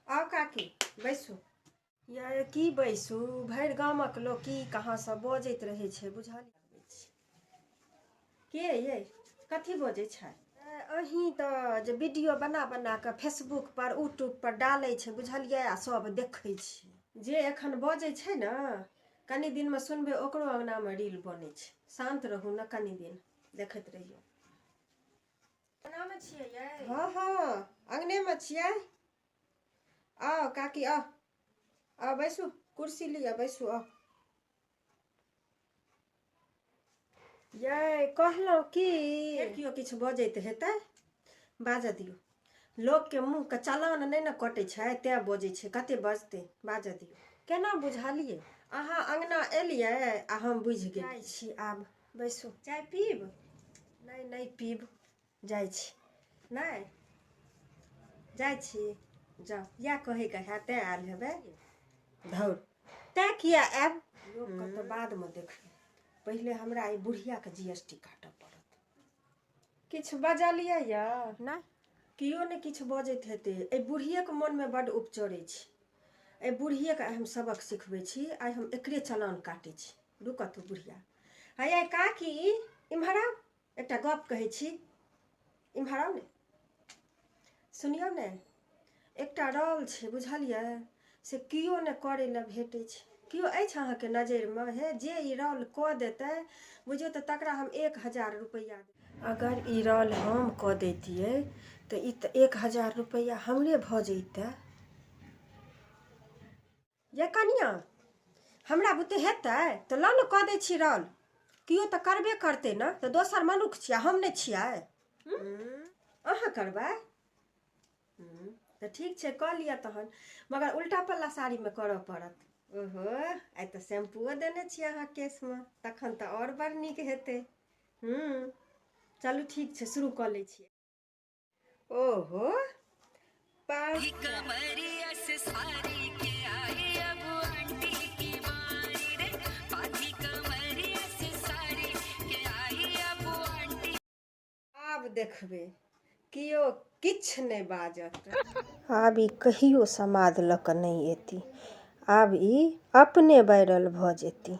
आउ काकी बैसू यै की बैसू भरि गामक लोक की कहाँसँ बजैत रहै छै बुझल के यै कथी बजै छै अही तऽ जे वीडियो बना बना कऽ फेसबुक पर यूट्यूब पर डालै छै बुझलियै आ सब देखै छै जे एखन बजै छै ने कनि दिनमे सुनबै ओकरो अङ्गनामे रील बनै छै शान्त रहू ने कनि दिन देखैत रहियौ कोनामे छियै यै हँ हँ अङ्गनेमे छियै आउ काकी आउ आउ बैसू कुर्सी लिअ बैसू आउ यै कहलहुँ की केओ किछु बजैत हेतै बाजऽ दियौ लोकके मुँहके चलान नहि ने कटै छै तैँ बजै छै कते बजतै बाजऽ दियौ केना बुझलियै अहाँ अङ्गना एलियै आ हम बुझि गेल छी आब बैसू चाय पीब नहि नहि पीब जाइ छी नहि जाइ छी जाउ इएह कहैके हए तैँ आयल हेबै धौर तैँ किए आयब लोकके तऽ बादमे देखबै पहिले हमरा ई बुढ़ियाके जी एस टी काटय पड़त किछु बजलियै यऽ नहि केओ नहि किछु बजैत हेतै एहि बुढ़िएके मोनमे बड्ड उपचरै छी एहि बुढ़िएके आइ हम सबक सिखबै छी आइ हम एकरे चलान काटै छी दू कथू बुढ़िया हयै काकी इम्हर आउ एकटा गप कहै छी इम्हर आउ ने सुनियौ ने एकटा रौल छै बुझलियै से केओ ने करै लए भेटै छै केओ अछि अहाँके नजरिमे हे जे ई रौल कऽ देतै बुझियौ तऽ तकरा हम एक हजार रुपैआ अगर ई रौल हम कऽ दैतियै तऽ ई तऽ एक हजार रुपैआ हमरे भऽ जैतै ये कनिया हमरा बुते हेतै तऽ लऽ ने कऽ दै छी रल केओ तऽ करबे करतै ने तऽ दोसर मनुख छियै हम नहि छियै अहाँ करबै तऽ ठीक छै कऽ लिअ तहन मगर उल्टा पल्ला साड़ीमे करऽ पड़त ओहो आइ तऽ शैम्पूओ देने छी अहाँ केशमे तखन तऽ आओर बड़ नीक हेतै हूँ चलू ठीक छै शुरू कऽ लै छियै ओहो आब देखबै केओ किछु नहि बाजत आब ई कहियो समाद लऽ कऽ नहि एती आब ई अपने वायरल भऽ जेती